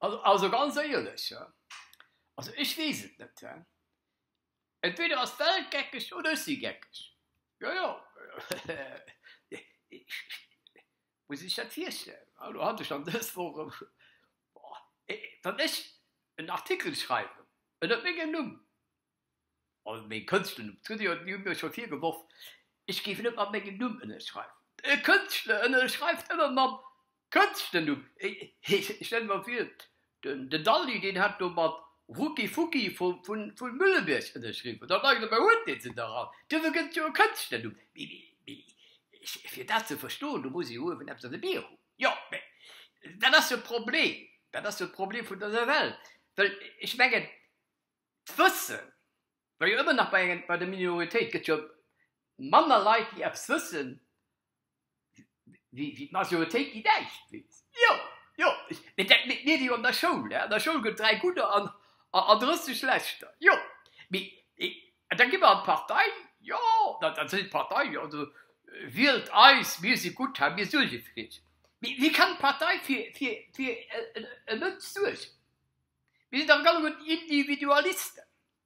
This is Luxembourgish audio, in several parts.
Also ganz éierlech, also ech weess et net. Entweder ass d'Welt geckeg oder ech si geckeg. Jo jo. Muss ech dat virstellen? Elo hat ech dann dës Woch erëm scho, boah, wann ech en Artikel schreiwen ënner mengem Numm, also mengem Kënschtlernumm, d'Hutt Dir hu mir scho virgeworf, ech géif net mat mengem Numm ënnerschreiwen. E Kënschtler ënnerschreift ëmmer mam Kënschtlernumm. Ech stelle mer vir, Den Dalli deen hat do mat Rucki Fucki vu Müllebierg ënnerschriwwen. Da frage ech, Mä huet dee se nach all? Duerfir gëtt et jo e Kënschtlernumm. Mee fir dat ze verstoen, do muss ee jo uewen eppes an de Bier hunn. Jo, mä dat ass jo d'Problem, dat ass jo d'Problem vun der Nawell. Well ech mengen, d'Wëssen war jo ëmmer nach bei der Minoritéit. Et gëtt jo manner Leit, déi eppes wëssen, Wéi d'Majoritéit déi Däischt weess. Jo, jo, mee dat mécht mir wéi an der Schoul. An der Schoul gëtt et dräi Gudder an drësseg Leschter. Jo, mee an da gi mer an d'Partei. Jo, da seet d'Partei, jo, also wielt eis, mir si gutt hei, mir suerge fir iech. Mee wéi kann d'Partei fir e Mënsch suergen? Mir sinn dach alleguerten Individualisten.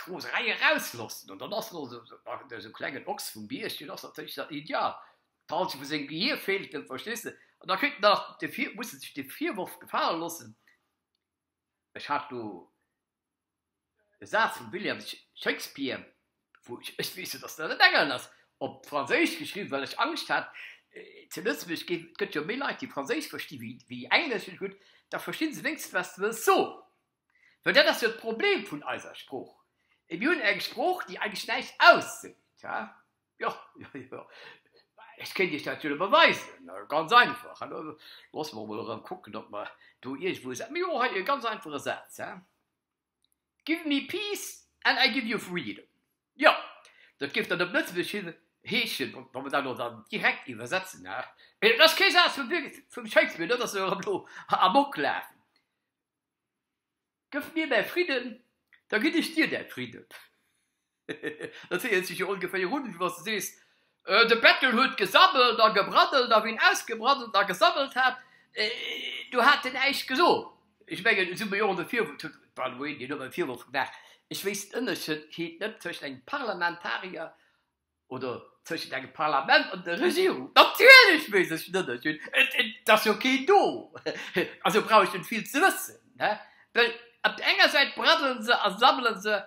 d'Roserei eraus loossen. An dann ass elo esou, ach, do ass e klengen Ochs vum Bierg, deen ass natierlech dann ideal, falls se vu sengem Gehier feelt en, verstees de? An da kritt en nach de Vir, muss e sech de Virworf gefale loossen, ech hat do e Saz vum William Shakespeare, wou ech, ech weess jo, dass dat en Engel ass, op Franséisch geschriwwen, well ech Angscht hat, zu Lëtzebuerg ginn, et gëtt jo méi Leit, déi Franséisch versti wéi Englesch, ech so, gutt, da versti se wéinstens, wat s de wëlls soen. Well dat ass jo d'Problem vun eiser Sprooch. Mir hunn eng Sprooch, déi eigentlech näischt ausseet. Hä? Jo, jo, jo. Ech kéint Iech dat jo elo beweisen. Ganz einfach. Hallo, loosse mer emol erëm kucken, ob mer do iergendwou e Sa-, jo, hei e ganz einfache Saz, hä? Give me peace and I give you freedom. Jo, dat géif dann op Lëtzebuergesch hin, heeschen, wa, wa mer dat elo dann direkt iwwersetzen, hä? Et ass kee Saz vum Wil-, vum Shakespeare, dat ass jo erëm elo am Oklafen. Gëff mir mäi Fridden, da ginn ech dir däi Fridden. Dat héiert sech jo ongeféier un, wéi wann s de sees, De Bettel huet gesammelt a gebraddelt, a wéi en ausgebraddelt a gesammelt hat, du hat en näischt gesot. Ech mengen, esou méi och de Virwurf, huet by the way deen Numm e Virwurf gemaach, ech wéisst den Ënnerscheed net tëscht engem Parlamentarier Oder tëschent engem Parlament an der Regierung. Natierlech weess ech d'Ënnerscheed, et ass jo keen do, also brauch ech net vill ze wëssen. Well op der enger Säit braddele se a sammele se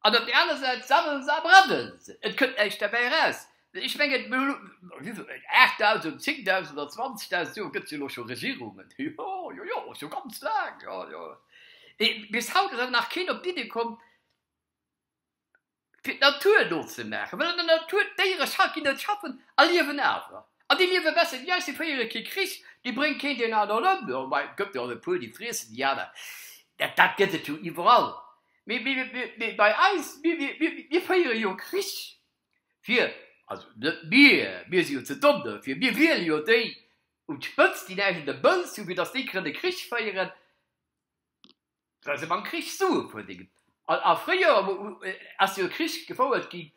an op der anerer Säit sammele se a braddele se, et kënnt näischt derbäi eraus. Ech mengen, mir hunn elo, wéi vill, aacht Dausend, zéng Dausend oder zwanzeg Dausend Joer gëtt et jo elo scho Regierungen, jo, jo, jo, scho ganz laang, jo, jo. Mee bis haut ass awer nach keen op d'Iddi komm, fir d'Natur no ze maachen, well an der Natur d'Déiere scha ginn net schaffen a liewen awer. An déi liewe besser wéi eis, déi féiere kee Krich, déi brénge keen deen aneren ëm. Jo, mä et gëtt jo och e puer, déi friessen déi aner. Dat, dat gëtt et jo iwwerall. Mee, mee, mee bei eis, mir, mir, mir, mir féiere jo Krich fir, also net mir, mir si jo ze domm dofir, mir wiele jo déi un d'Spëtzt, déi näischt un der Bëlz hunn, fir datt déi kënne Krich féieren. well se beim Krich Sue puer dinn an a fréier ass jo e Krich gefouert ginn,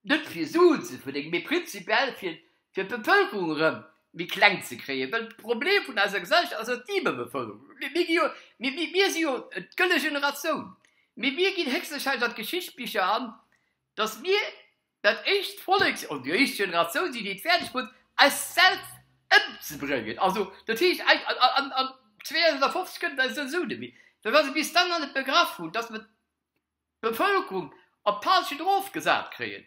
net fir Suen ze verdéngen, mee prinzipiell fir d'Bevëlkerung erëm méi kleng ze kréien, well de Problem vun eiser Gesellschaft ass jo d'Iwwerbevëlkerung. Mir gi jo, mir si jo d'gëlle Generatioun, mee mir ginn héchstwahrscheinlech an d'Geschichtsbicher an, datt mir Dat éischt Vollek, oder déi éischt Generatioun, déi et fäerdeg krut, eis selwer ëmzebréngen. Also, dat heescht, an 2050 kënnt et eis esou net méi ginn, wa se bis dann nach net begraff hunn, datt mer d'Bevëlkerung op d'Palchen erofgesat kréien.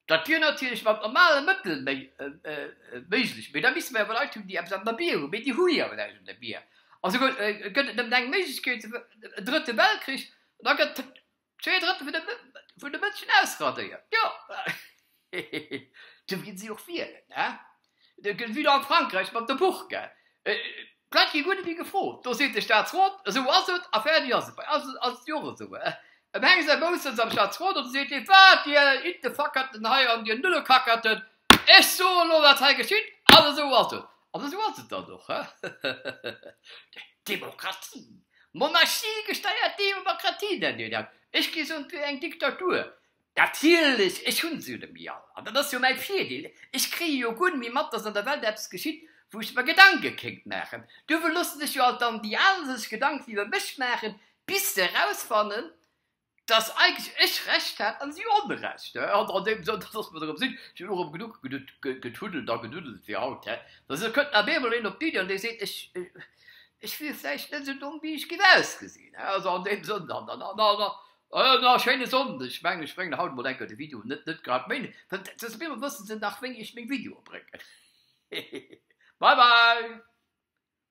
Dat wier natierlech mat normale Mëttel méiglech, mee da misste mer jo Leit hunn, déi eppes an der Bir hunn. Mee déi hu jo awer näischt an der Bir. Also gëtt et nëmmen eng Méiglechkeet, e Drëtte Weltkrich, an da gëtt. Zwee Drëttel vun de, vun de Mënschen ausradéiert, jo. Hehehe, du ginn si och wielen, he? De gëtt wieder an Frankräich mat der Burka. D'Leit gi guer net méi gefrot, do seet de Staatsrot, esou ass et a fäerdig ass et. Bei eis ass et jo och esou, he? Em heng säi Boussens am Staatsrot an da seet hie, wat, dir Iddefackerten hei an dir Nullekakerten, Ech soen elo, wat hei geschitt, an esou ass et, an esou ass et dann och. Demokratie, Monarchie-gesteiert Demokratie nennt Dir dat, ech géif soen, et wier eng Diktatur. Natierlech, ech hu se jo net méi all, an dat ass jo mäi Virdeel, ech kréie jo guer net méi mat, datt an der Welt eppes geschitt, wou ech mer Gedanke kéint maachen. Duerfir loosse sech jo alt dann déi al sech Gedanken iwwer mech maachen, bis se erausfannen, dass eigentlech ech Recht hat a si Onrecht. An an deem Sënn, dass mer erëm sinn, ech hunn och erëm genuch getuddelt a geduddelt fir haut, dass elo kënnt nach eemol een op d'Iddi an dee seet, ech ech wier vläicht net esou domm wéi ech géif ausgesinn. Also an deem Sënn dann dann dann dann dann a schéine Sonnden. Ech mengen, ech bréngen haut emol eng Kéier de Video, net net grad méi, well dat ass mir, wësse se nach wéini ech meng Videoe bréngen. Hehe bye bye.